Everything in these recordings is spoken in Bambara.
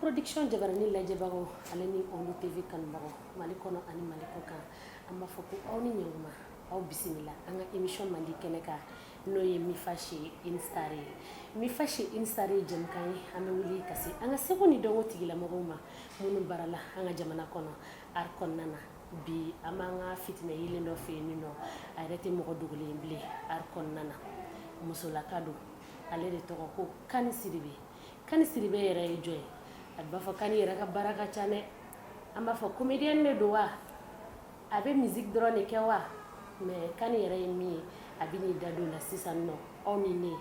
production jabarani lajɛbagaw ale ni ondu tv kanubagaw mali kɔnɔ ani mali kɔ kan an b'a fɔ ko aw ni ɲɛkuma aw bisimila an ka émission mandi kɛnɛ kan n'o ye mifa chez une star ye mifa chez une star ye jɛmukan ye an bɛ wuli ka se an ka seko ni dɔnko tigilamɔgɔw ma minnu barala an ka jamana kɔnɔ art kɔnɔna na bi an b'an ka fitinɛ yeelen dɔ fɛ yen min nɔ a yɛrɛ tɛ mɔgɔ dogolen bilen art kɔnɔna na musolaka don ale de tɔgɔ ko kani sidibe kani sidibe yɛrɛ ye jɔn ye a b'a fɔ kani yɛrɛ ka baara ka ca dɛ an b'a fɔ comédienne de don wa a bɛ musique dɔrɔn de kɛ wa mais kani yɛrɛ ye min ye a bɛ n'i da don la sisan nɔ aw ni ne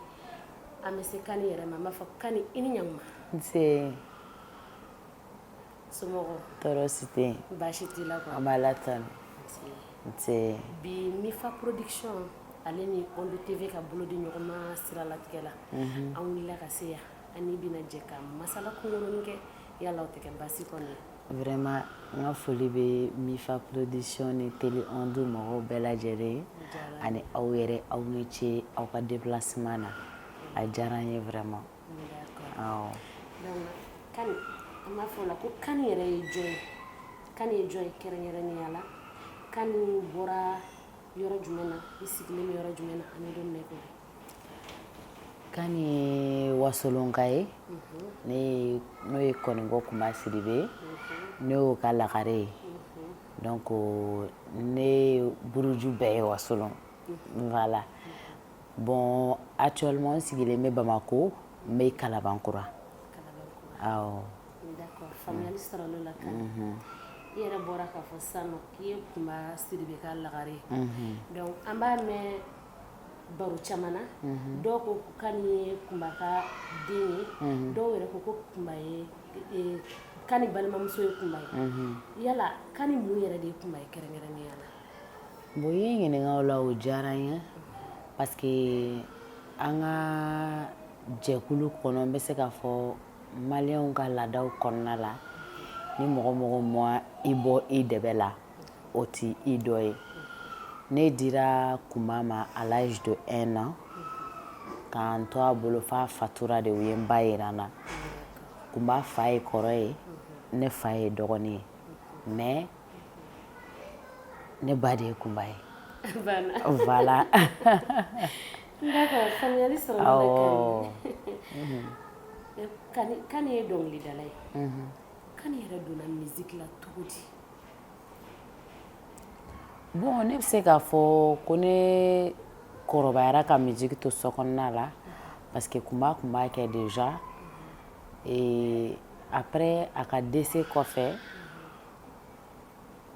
an bɛ se kani yɛrɛ ma an b'a fɔ kani i ni ɲama nse somɔgɔw tɔɔrɔ si tɛ baasi t'i la an b'ala tanu nse bi mifa production ale ni ondu tv ka bolo di ɲɔgɔn ma siralatigɛ la an wulila ka se yan an n'i bɛna jɛ ka masala kunkurunin kɛ yala o tɛ kɛ baasi kɔni Vraiment n ka foli bɛ mifa production ni télé ondu mɔgɔw bɛɛ lajɛlen ye ani aw yɛrɛ aw ni ce aw ka déplacement na a diyara n ye vraiment an b'a fɔ o la ko kani yɛrɛ ye jɔn ye kani ye jɔn ye kɛrɛnkɛrɛnnenya la kani bɔra yɔrɔ jumɛn na i sigilen bɛ yɔrɔ jumɛn na an bɛ don kani ye wasolonka ye mhm. n'o ye kɔninkɔ kunba sidibe ye mhm. ne y'o ka lagare ye mhm. donc ne buruju bɛɛ ye wasolon voilà bon actuellement n sigilen bɛ bamako n bɛ kalabankura awɔ d'accord faamuyali sɔrɔl'o la kani i yɛrɛ bɔra k'a fɔ sisan nɔ k'i ye kunba sidibe ka lagare ye donc an b'a mɛn baro caman na dɔw ko kani ye kunba ka den ye dɔw yɛrɛ ko ko kunba ye kani balimamuso ye kunba ye yala kani mun yɛrɛ de ye kunba ye kɛrɛnkɛrɛnnenya la bon i ye n ɲininka o la o diyara n ye parce que an ka jɛkulu kɔnɔ n bɛ se k'a fɔ maliyɛnw ka laadaw kɔnɔna la ni mɔgɔ mɔgɔ ma i bɔ i dɛbɛ la o tɛ i dɔ ye ne dira kunba ma à l'âge de 1 an ka n to a bolo f'a fatura de u ye n ba jira n na kunba fa ye kɔrɔ ye ne fa ye dɔgɔnin ye mais ne ba de ye kunba ye voilà d'accord faamuyali sɔrɔ l'o la awɔ kani kani ye dɔnkilidala ye kani yɛrɛ donna musique la cogo di Bon ne bɛ se k'a fɔ ko ne kɔrɔbayara ka musique to so kɔnɔna la parce que kunba tun b'a kɛ déjà après a ka décès kɔfɛ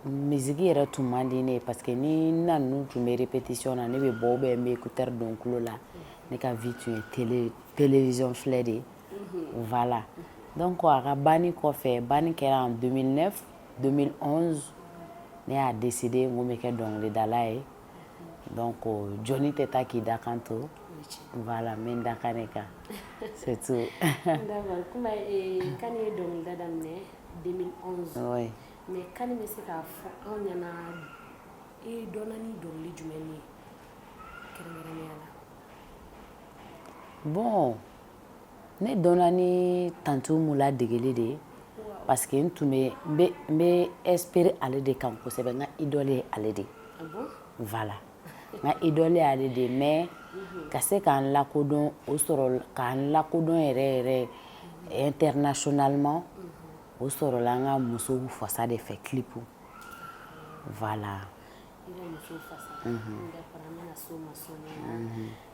musique yɛrɛ tun man di ne ye parce que ni n na ninnu tun bɛ répétition na ne bɛ bɔ ou bien n bɛ écouteur don n tulo la ne ka vie tun ye télévision filɛ de ye voilà donc a ka banni kɔfɛ banni kɛra en 2009 2011 ne y'a décidé n ko n bɛ kɛ dɔnkilidala ye donc jɔni tɛ taa k'i dakan to voilà n bɛ n dakan de kan c'est tout. d'accord kunba eh, kani ye dɔnkilida daminɛ 2011. oui. mais kani bɛ se k'a fɔ anw ɲɛna i dɔnna ni dɔnkili jumɛn ye kɛrɛnkɛrɛnnenya la. bon. ne dɔnna ni tanti umu ladegeli de ye parce que n tun bɛ n bɛ inspirer ale de kan kosɛbɛ n ka idole ye ale de ye ah voilà n ka idole ye ale de ye mais ka se k'an lakodɔn o sɔrɔ k'an lakodɔn yɛrɛ yɛrɛ internationalement o sɔrɔla n ka musow fasa de fɛ clip voilà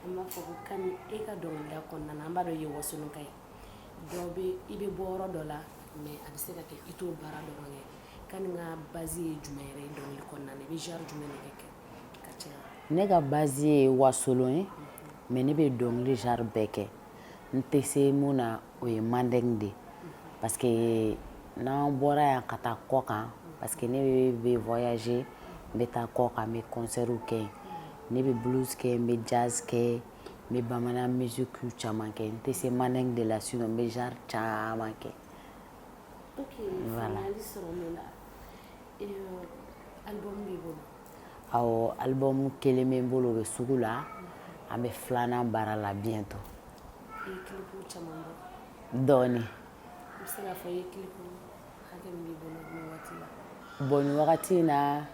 An b'a fɔ ko kani e ka dɔnkilida kɔnɔna na an b'a dɔn i ye wasolonka ye dɔ bɛ i bɛ bɔ yɔrɔ dɔ la mais a bɛ se ka kɛ i t'o baara dɔrɔn kɛ kani ka base ye jumɛn yɛrɛ ye dɔnkili kɔnɔna na i bɛ genre jumɛn de kɛ ka caya ne ka base ye wasolon ye mais ne bɛ dɔnkili genre bɛɛ kɛ n tɛ se mun na o ye mandeng de ye parce que n'an bɔra yan ka taa kɔkan parce que ne bɛ bɛ voyager n bɛ taa kɔkan n bɛ concertw kɛ yen ne bɛ blues kɛ n bɛ jazz kɛ n bɛ bamanan musique caman kɛ n tɛ se mandeng de la sinon n bɛ genre caman kɛ. Ok, voilà. faamuyali sɔrɔ l'o la. Et euh, album b'i bolo? album kelen bɛ n bolo o bɛ sugu la an bɛ filanan baara la bientôt dɔɔnin bon nin wagati in na n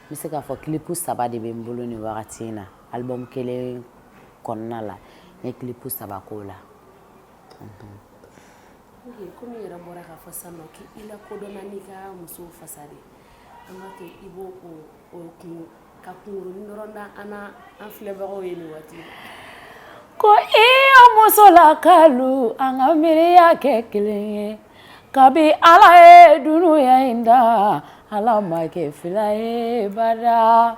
bɛ se k'a fɔ clip saba de bɛ n bolo nin wagati in na album kelen kɔnɔna la n ye clip saba k'o la An b'a to i b'o o o kungo ka kunkurunnin dɔrɔn da an n'a an filɛbagaw ye nin waati in na ko iyo musolakalu an ka miiriya kɛ kelen ye kabi Ala ye dunuya in da Ala ma kɛ fila ye badaa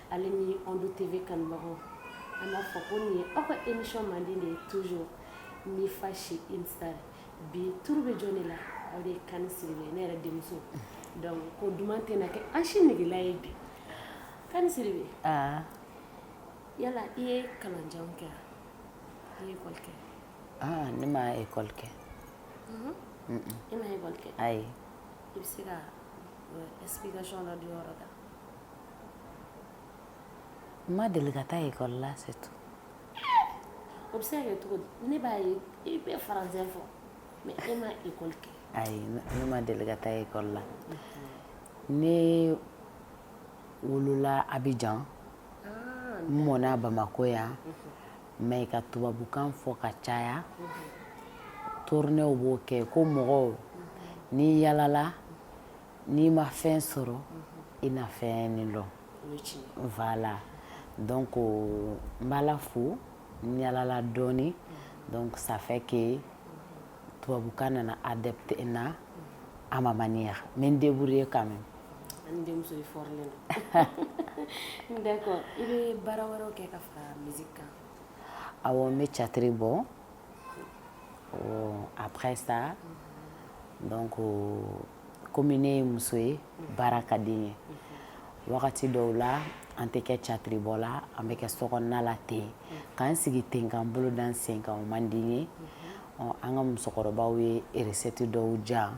Ale ni Ondo TV kanubagaw an b'a fɔ ko nin ye aw ka émission mandi de ye toujours Mifa chez Insta bi tour bɛ jɔn de la aw de ye Kani Sidibe ne yɛrɛ denmuso donc ko duman tɛna kɛ an si negela ye bi Kani Sidibe aa yala i ye kalanjan kɛ i ye ekɔli kɛ aa ne ma ekɔli kɛ e ma ekɔli kɛ ayi i bɛ se ka explication dɔ di o yɔrɔ kan n ma deli ka taa ekɔli la c'est tout. O bɛ se ka kɛ cogo di? Ne b'a ye i bɛ français fɔ mais e ma ekɔli kɛ. Ayi ne ma deli ka taa ekɔli la. Ne wolola Abijan, ah, n mɔna Bamakɔ yan mhm. mais ka tubabukan fɔ ka caya mhm. tournéew b'o kɛ ko mɔgɔw mhm. n'i yalala n'i ma fɛn sɔrɔ i na fɛn nin dɔn voilà donc n b'Ala fo n yalala dɔɔni donc ça fait que tubabukan nana adapté n na à ma manière n bɛ n débrouiller quand même ani denmuso i fɔrilen don d'accord i bɛ baara wɛrɛw kɛ ka fara musique kan awɔ n bɛ catiri bɔ après ça donc komi ne ye muso ye baara ka di n ye wagati dɔw la an tɛ kɛ catiribɔ la an bɛ kɛ sokɔnɔna la ten k'an sigi ten k'an bolo da an sen kan o man di n ye an ka musokɔrɔbaw ye eresɛti dɔw dilan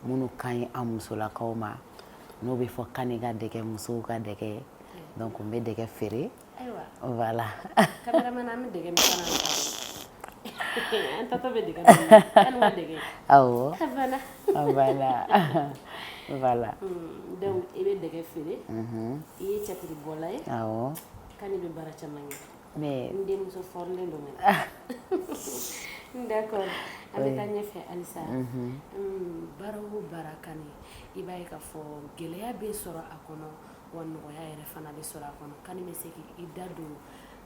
minnu ka ɲi an musolakaw ma n'o bɛ fɔ Kani ka dɛgɛ musow ka dɛgɛ donc n bɛ dɛgɛ feere ayiwa voilà cameraman an bɛ dɛgɛ min fana an taatɔ bɛ dɛgɛ min an ma dɛgɛ awɔ ah, voilà ah, voilà voilà hmm, donc i bɛ dɛgɛ feere mhm. i ye catiribɔla ye awɔ Kani bɛ baara caman kɛ mais n denmuso fɔrilen don mɛnɛ d'accord an bɛ taa ɲɛfɛ halisa mhm. hmm, baara o baara Kani i b'a ye k'a fɔ gɛlɛya bɛ sɔrɔ a kɔnɔ wa nɔgɔya yɛrɛ fana bɛ sɔrɔ a kɔnɔ Kani bɛ se k'i da don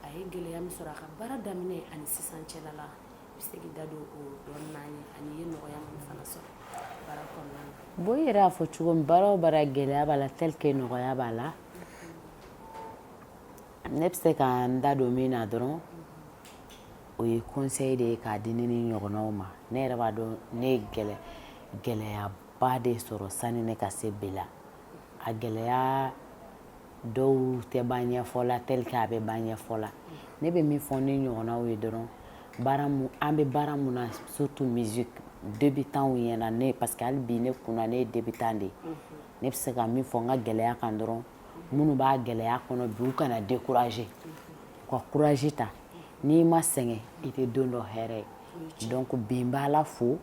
a ye gɛlɛya min sɔrɔ a ka baara daminɛ ani sisan cɛla la i bɛ se k'i da don o dɔɔnin n'an ye ani i ye nɔgɔya min fana sɔrɔ baara kɔnɔna na bon i yɛrɛ y'a fɔ cogo min baara o baara gɛlɛya b'a la tel que nɔgɔya b'a la ne bɛ se ka n da don min na dɔrɔn o ye conseil de ye k'a di ne ni ɲɔgɔnnaw ma ne yɛrɛ b'a dɔn ne ye gɛlɛyaba de sɔrɔ sani ne ka se bi la a gɛlɛya dɔw tɛ ban ɲɛfɔ la tel que a bɛ ban ɲɛfɔ la ne bɛ min fɔ ne ɲɔgɔnnaw ye dɔrɔn an bɛ baara mun na surtout musique débutantw ɲɛna ne parce que hali bi ne kunna ne ye débutant de ye ne bɛ se ka min fɔ n ka gɛlɛya kan dɔrɔn minnu b'a gɛlɛya kɔnɔ bi u kana décourager u ka courage ta n'i ma sɛgɛn i tɛ don dɔ hɛrɛ ye donc bi n b'Ala fo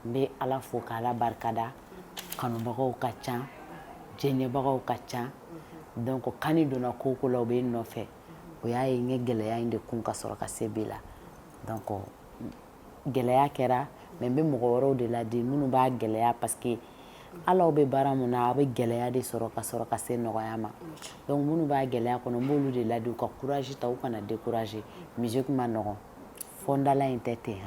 n bɛ ala fo ka ala barikada kanubagaw ka ca jɛɲɛbagaw ka ca donc Kani donna ko o ko la u bɛ n nɔfɛ o y'a ye n ye gɛlɛya in de kun ka sɔrɔ ka se bi la donc gɛlɛya kɛra mais n bɛ mɔgɔ wɛrɛw de ladi minnu b'a gɛlɛya parce que hali aw bɛ baara min na aw bɛ gɛlɛya de sɔrɔ ka sɔrɔ ka se nɔgɔya ma donc minnu b'a gɛlɛya kɔnɔ n b'olu de ladi u ka courage ta u kana décourager musique man nɔgɔ fɔ da la in tɛ ten h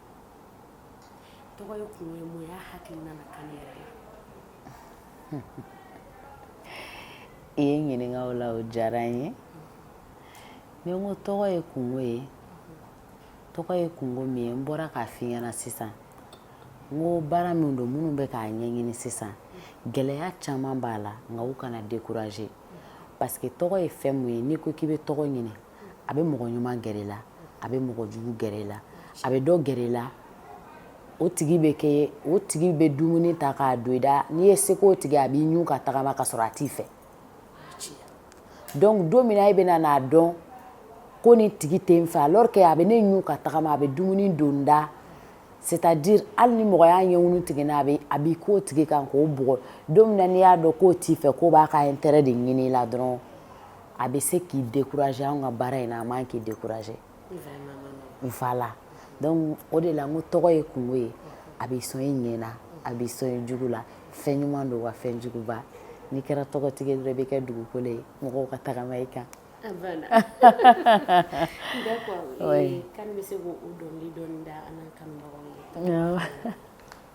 tɔgɔ ye kungo ye mun y'a hakili nana Kani yɛrɛ la i ye n ɲininka o la o diyara n ye ni n ko tɔgɔ ye kungo ye tɔgɔ ye kungo min ye n bɔra k'a f'i ɲɛna sisan n ko baara min don minnu bɛ k'a ɲɛɲini sisan gɛlɛya caman b'a la nka u kana décourager parce que tɔgɔ ye fɛn mun ye n'i ko k'i bɛ tɔgɔ ɲini a bɛ mɔgɔ ɲuman gɛrɛ i la a bɛ mɔgɔ jugu gɛrɛ i la a bɛ dɔ gɛrɛ i la o tigi bɛ kɛ o tigi bɛ dumuni ta k'a don i da n'i ye se o tigi a b'i ɲun ka tagama ka sɔrɔ a t'i fɛ donc don min e bɛna n'a dɔn ko nin tigi tɛ n fɛ alors que a bɛ ne ɲun ka tagama a bɛ dumuni don n da c'est-à-dire hali ni mɔgɔ y'a ɲɛkun tigɛ n'a bɛ a b'i k'o tigi kan k'o bugɔ don min n'i y'a dɔn k'o t'i fɛ k'o b'a ka intérêt de ɲini i la dɔrɔn a bɛ se k'i décourager anw ka baara in na a man kan k'i décourager voilà donc o de la n ko tɔgɔ ye kungo ye a b'i sɔn i ɲɛ na a b'i sɔn i jugu la fɛn ɲuman don wa fɛn juguba n'i kɛra tɔgɔtigi ye dɔrɔn i bɛ kɛ dugukolo ye mɔgɔw ka tagama i kan Voilà. D'accord. Oui. Kani bɛ se k'o dɔnkili dɔɔni da an n'a kanubagaw ye. Awɔ.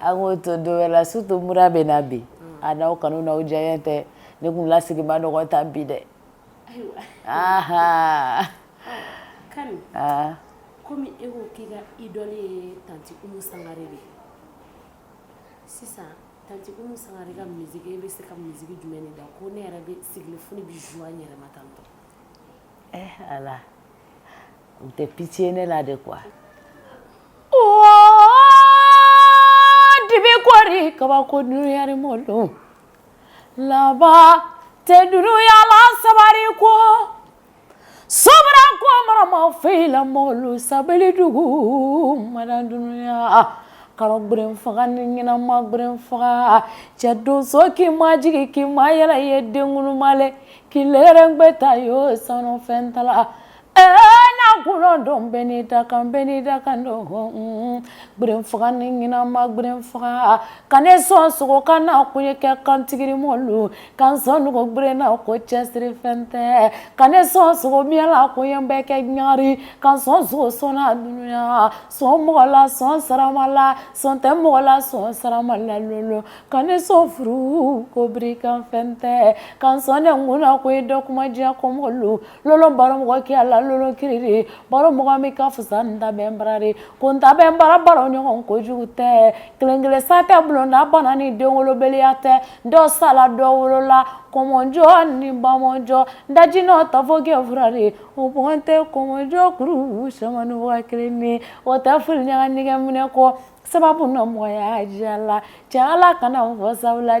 An k'o to don wɛrɛ la surtout mura bɛ n na bi a n'aw kanu n'aw diyaɲɛ tɛ ne kun lasigi man nɔgɔn tan bi dɛ Kani kɔmi e ko k'i ka idole ye tante Umu Sangare de ye sisan tante Umu Sangare ka musique e bɛ se ka musique jumɛn de da ko ne yɛrɛ bɛ sigi fo bɛ yɛrɛ tan U tɛ pitié ne la de quoi dibi kɔri kabako dunuyari mɔlu laban tɛ dunuya la sabari ko so ko marama fila mɔlu sabali dugu ma dunya karo gberen faga ni ɲɛnama gberen faga cɛ donso k'i ma jigin k'i ma yɛlɛ ye denmale k'i lɛrɛ bɛ taa ye sanu fɛn tala Kɔnɔ dɔn bɛ ne da kan bɛ ne da kan dɔn gberen faga ni ɲɛnama gberen faga ka ne sɔn sogo kan na k'o ye kɛ kantigiri mɔlu ka n sɔn nugu gberen na ko cɛsiri fɛn tɛ ka ne sɔn sogo mila ko yan bɛ kɛ ɲari ka n sɔn sogo sɔn na dunya sɔn mɔgɔ la sɔn sarama la sɔn tɛ mɔgɔ la sɔn sarama la lolo ka ne sɔn furu ko biri kan fɛn tɛ ka n sɔn nɛnkun na k'o ye dɔ kuma diya kɔmɔlu baro mɔgɔ kɛya la lolo kiiriri baro mɔgɔ min ka fisa n ta bɛ n barari ko n ta bɛ bara baro ɲɔgɔn kojugu tɛ kelen-kelen sa tɛ bulonda ban na ni denwolobaliya tɛ dɔ sala dɔ wolola komɔnjɔ ni bamɔnjɔ daji nɔ ta fɔ kɛ furari o mɔn tɛ komɔnjɔ kuru samani kelen ni o tɛ fili ɲaga nɛgɛ minɛ kɔ sababu na mɔgɔya diya la cɛ ala kana fɔ sabu la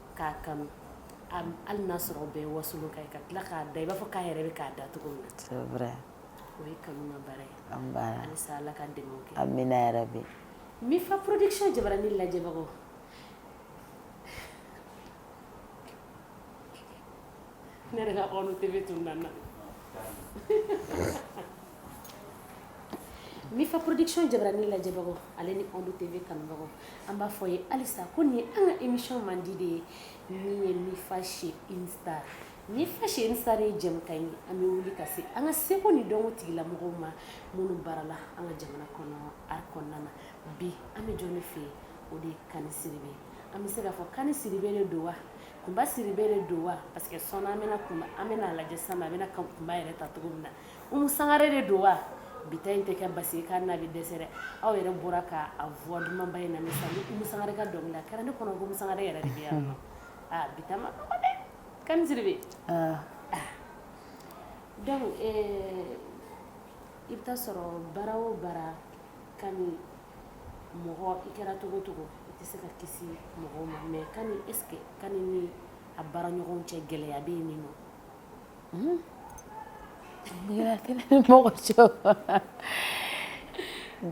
k'a kanu hali n'a sɔrɔ bɛɛ ye Wasolon kan ye ka tila k'a da i b'a fɔ k'a yɛrɛ bɛ k'a da cogo min na c'est vrai o ye kanu ma baara ye an baara halisa Ala ka dɛmɛw kɛ amina yarabi Mifa production jabarani lajɛbagaw ne yɛrɛ ka ɔɔnu TV tununna n na Mifa production jabarani lajɛbagaw ale ni Ondo TV kanubagaw an b'a fɔ ye halisa ko ni an ka émission mandi de ye min ye Mifa chez une star Mifa chez une star ye jɛmukan ye an bɛ wuli ka se an ka seko ni dɔnko tigilamɔgɔw ma minnu baarala an ka jamana kɔnɔ art kɔnɔna na bi an bɛ jɔn de fɛ yen o de ye Kani Sidibe ye an bɛ se k'a fɔ Kani Sidibe de don wa Kunba Sidibe de don wa parce que sɔn an bɛna kun an bɛna lajɛ sisan a bɛna Kunba yɛrɛ ta cogo min na Umu Sangare de don wa? Bi ta in tɛ kɛ basi ye k'a na bɛ dɛsɛ dɛ, aw yɛrɛ bɔra ka a voix dumanba in lamɛn sisan ni Umu Sangare ka dɔnkili la, a kɛra ne kɔnɔ ko Umu Sangare yɛrɛ de bɛ yan nɔ, aa bi ta ma nɔgɔ dɛ, Kani Sidibe, ɔɔ, donc ee, i bɛ taa sɔrɔ baara o baara Kani mɔgɔ i kɛra cogo o cogo i tɛ se ka kisi mɔgɔw ma mais Kani est ce que Kani ni a baara ɲɔgɔnw cɛ gɛlɛya bɛ yen ninɔ? Mm. Gɛlɛya tɛ ne ni mɔgɔ cɛ o.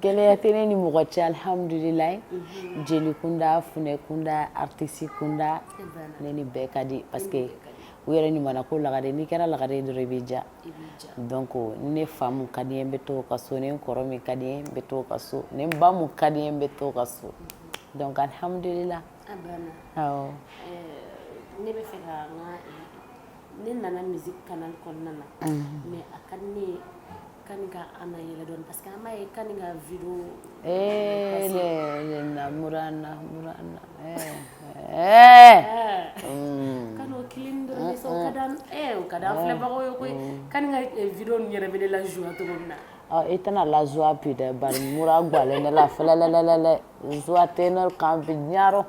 Gɛlɛya tɛ ne ni mɔgɔ cɛ alhamdulilayi. Unhun. Jeli kunda, funɛ kunda, artiste kunda. E banna. Ne ni bɛɛ ka di parce que e ni bɛɛ ka di. U yɛrɛ ɲumana ko lagare n'i kɛra lagare ye dɔrɔn i bɛ diya. I bɛ diya. Donc ni ne fa mun ka di n ye n bɛ t'o ka so, ni n kɔrɔ min ka di n ye n bɛ t'o ka so, ni n ba mun ka di n ye n bɛ t'o ka so. Unhun. Donc alhamdulilayi. Ne bɛ fɛ ne nana misi kalan kɔnɔna na mɛ a ka ne kan an yɛrɛ dɔn parce que ye kan ka vi filɛbagaw ye koyi kan ka vi yɛrɛ bɛ la zuwa cogo min na Ɔ i tɛna la joie bi dɛ bari mura gwalen ne la fɛlɛlɛlɛlɛ joie tɛ ne kan bi ɲarɔ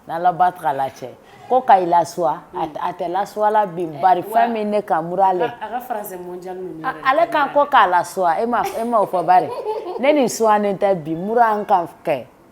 n'Ala ba t'a la cɛ ko ka i lasuwa a tɛ lasuwa la bi bari fɛn min ne kan mura le a ka français mondial ninnu yɛrɛ ale kan ko k'a lasuwa e ma e ma o fɔ bari ne nin suwanen tɛ bi mura n kan kɛ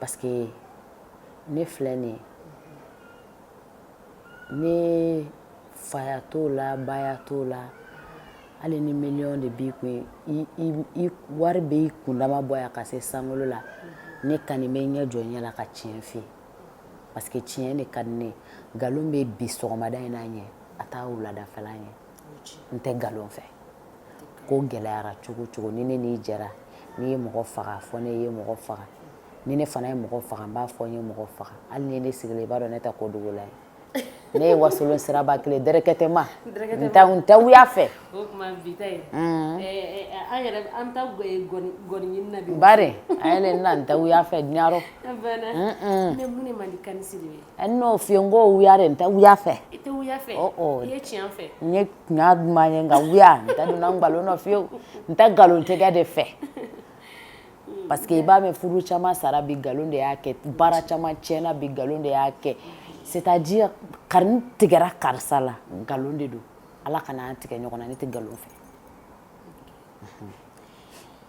parce que ne filɛ nin ye ne faya t'o la baya t'o la hali ni miliyɔn de b'i kun i wari bɛ i kundama bɔ yan ka se sankolo la ne Kani bɛ ɲɛ jɔ ɲɛ la ka tiɲɛ f'i ye parce que tiɲɛ de ka di ne ye nkalon bɛ bi sɔgɔmada in na ɲɛ a t'a wuladafɛla ɲɛ n tɛ nkalon fɛ ko gɛlɛyara cogo o cogo ni ne n'i jɛra n'i ye mɔgɔ faga a fɔ ne ye mɔgɔ faga ni ne fana ye mɔgɔ faga n b'a fɔ n ye mɔgɔ faga hali ni ne sigilen i b'a dɔn ne tɛ ko dogola ye ne ye wasolon siraba kelen directement n tɛ wuya fɛ bari a yɛlɛ n na n tɛ wuya fɛ ɲarɔ n'o f'i ye n ko wuya de n tɛ wuya fɛ i tɛ wuya fɛ i ye tiɲɛ fɛ n ye tiɲɛ duman ye nka wuya n tɛ donna nkalon na fiyewu n tɛ nkalontigɛ de fɛ parce que i b'a mɛn furu caman sara bi nkalon de y'a kɛ baara caman tiɲɛna bi nkalon de y'a kɛ c'est à dire kari tigɛra karisa la nkalon de don ala kana an tigɛ ɲɔgɔn na ne tɛ nkalon fɛ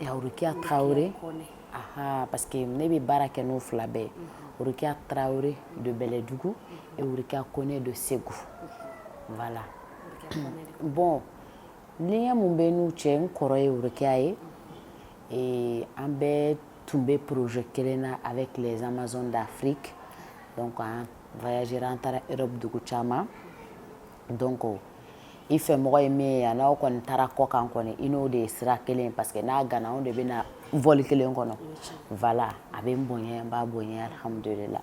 Okeya tarawele aa parce que ne bɛ baara kɛ n'o fila bɛɛ okeya tarawele don bɛlɛdugu ekeya ko ne don segu la bɔn ni ye minnu bɛ n'u cɛ n kɔrɔ ye okeya ye ee an bɛ tun bɛ porozo kelen na a bɛ tilelenzmazɔn dafiri an an taara dugu caman Donc i fɛ mɔgɔ ye min ye yan n'aw kɔni taara kɔ kan kɔni i n'o de ye sira kelen parce que n'a gana anw de bɛ na vol kelen kɔnɔ voilà a bɛ n bonya n b'a bonya alhamdulillah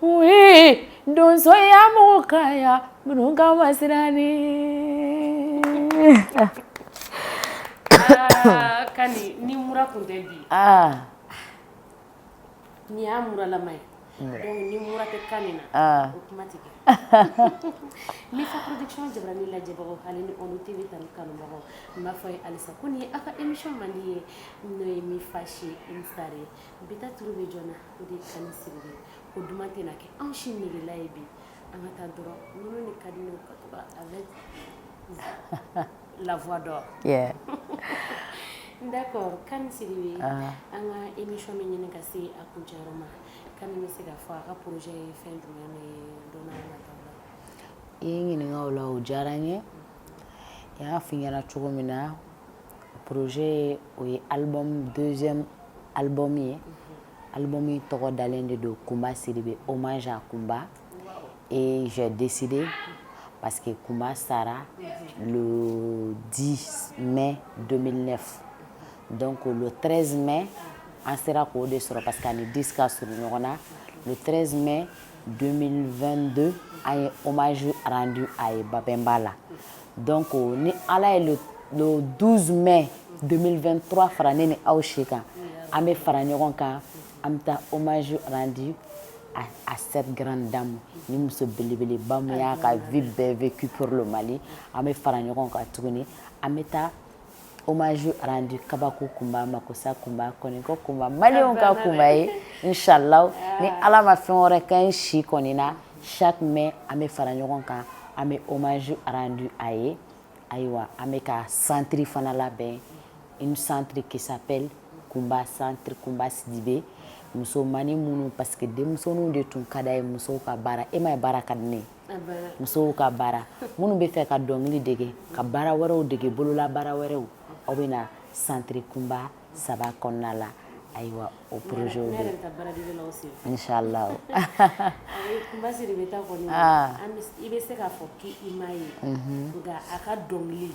Oui donsoya mɔgɔ ka yan minnu ka ma siran Kani ni mura kun tɛ bi ni y'a muralama ye ni mura tɛ Kani na o kuma tɛ kɛ Mifa jabarani lajɛbagaw hali ni Onu TV tanu kanubagaw n b'a fɔ aw ye halisa ko nin ye aw ka émission mandi ye n'o ye Mifa Show Star ye bi ta tour bɛ jɔn na o de ye Kani Sidibe ko duman tɛna kɛ anw si negela ye bi an ka taa dɔrɔn nɔnɔ ni ka di ne ka to ka avec la voix d'or yeah d'accord Kani Sidibe an ka émission bɛ ɲini ka se a kuncɛyɔrɔ ma Kani bɛ se k'a fɔ a ka projet ye fɛn jumɛn ye don n'a nataw la i ye ɲininka o la o diyara n ye n y'a f'i ɲɛna cogo min na Pze o ye ali donso alibɔme ye ali min tɔgɔ dalen de don kunba siri bɛ o ma jan kunba ee z dɛsɛse de pa que kunba sara di mɛ don ne dɔn ko treize mɛ an sera k'o de sɔrɔ ka taa ni di ka s ɲɔgɔn na u treze mɛ don2 don an ye omaz di a ye babɛnba la Dɔn ko ni ala ye don donsoumɛ donfɛnura fara ne ni aw si kan an bɛ fara ɲɔgɔn kan an bɛ taa omaz di a se garan da ma ni muso belebele bamanan y'a ka v bɛɛ v kioro mali an bɛ fara ɲɔgɔn kan tuguni an bɛ taa hommage rendu kabako kunba makosa kunba kɔniko kunba maliyɛnw ka kunba ye inshallah ni ala ma fɛn wɛrɛ kɛ n si kɔni na chaque mai an bɛ fara ɲɔgɔn kan an bɛ hommage rendu a ye ayiwa an bɛ ka centre fana labɛn une centre qui s'appelle kunba centre kunba sidibe musomannin minnu parce que denmisɛnninw de tun ka d'a ye musow ka baara e ma ye baara ka di ne ye musow ka baara minnu b'a fɛ ka dɔnkili dege ka baara wɛrɛw dege bolola baara wɛrɛw o bɛ na centre kunba saba kɔnɔna la ayiwa o projet o inshallah i bɛ se k'a fɔ k' i ma ye nka a ka dɔnkili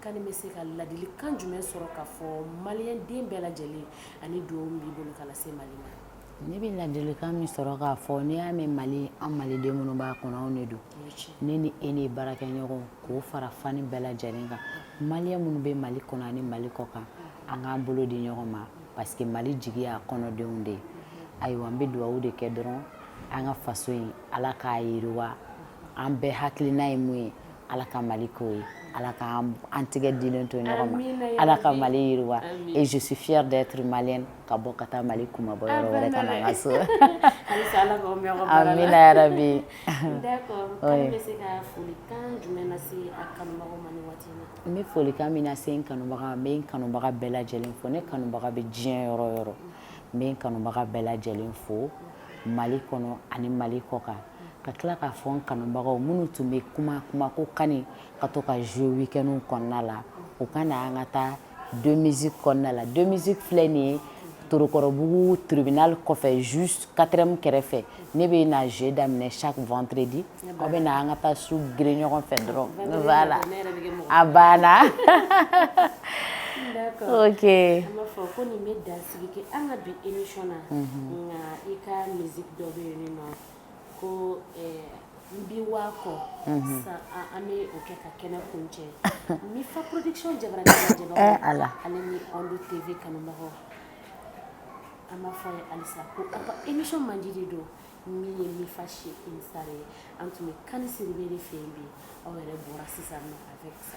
Kani bɛ se ka ladili kan jumɛn sɔrɔ ka fɔ maliyɛn den bɛɛ lajɛlen ani dugawu min b'i bolo ka lase Mali ma? Ne bɛ ladili kan min sɔrɔ k'a fɔ n'i y'a mɛn Mali an maliden minnu b'a kɔnɔ anw de don ne ni e ni baarakɛɲɔgɔn k'o fara fan bɛɛ lajɛlen kan maliyɛn minnu bɛ Mali kɔnɔ ani Mali kɔkan an k'an bolo di ɲɔgɔn ma parce que Mali jigi y'a kɔnɔdenw de ye ayiwa n bɛ dugawu de kɛ dɔrɔn an ka faso in Ala k'a yiriwa an bɛɛ hakilina ye min ye Ala ka Mali k'o ye Ala ka an tigɛ dilen to ɲɔgɔn ma amina yarabi Ala ka Mali yiriwa amina et je suis fière d'être malienne ka bɔ ka taa Mali kunmabɔ yɔrɔ wɛrɛ ka na n ka so halisa Ala k'aw mɛɛn aw ka baara la amina yarabi d'accord oui Kani bɛ se ka folikan jumɛn lase a kanubagaw ma nin waati in na n be folikan min lase n kanubaga n be n kanubaga bɛɛ lajɛlen fo ne kanubaga be diɲɛ yɔrɔ o yɔrɔ n be n kanubaga bɛɛ lajɛlen fo Mali kɔnɔ ani Mali kɔkan ka tila k'a fɔ n kanubagaw minnu tun bɛ kuma kuma ko Kani ka to ka jouer week-end kɔnɔna la u ka na an ka taa deux musique kɔnɔna la deux musique filɛ nin ye Torokɔrɔbugu tribunal kɔfɛ juste quatrième kɛrɛfɛ ne bɛ na jouer daminɛ chaque vendredi aw bɛ na an ka taa su gere ɲɔgɔn fɛ dɔrɔn voilà a banna ok an b'a fɔ ko nin bɛ dan Sigi kɛ an ka bi émission na nka i ka musique dɔ bɛ yen min tɔgɔ ko n bi waa kɔ sisan an bɛ o kɛ ka kɛnɛ kuncɛ Mifa production jabara ale ni Onde TV kanubagaw an b'a fɔ aw ye halisa ko émission mandi de don min ye Mifa chez une star ye an tun bɛ Kani Sidibe de fɛ yen bi aw yɛrɛ bɔra sisan a fɛ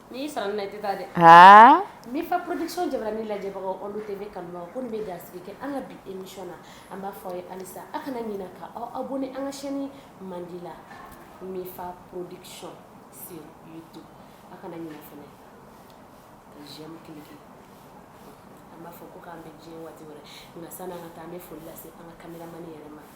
N'i sara ne tɛ taa dɛ aa Mifa production jabaranin lajɛbagaw Onde TV kanubagaw ko nin bɛ dansigi kɛ an ka bi émission na an b'a fɔ aw ye halisa aw kana ɲinɛ ka aw abonné an ka chaîne mandi la Mifa production sur YouTube aw kana ɲinɛ fana ka j'aime cliquer an b'a fɔ ko k'an bɛn diɲɛ waati wɛrɛ nka sani an ka taa an bɛ foli lase an ka cameraman yɛrɛ ma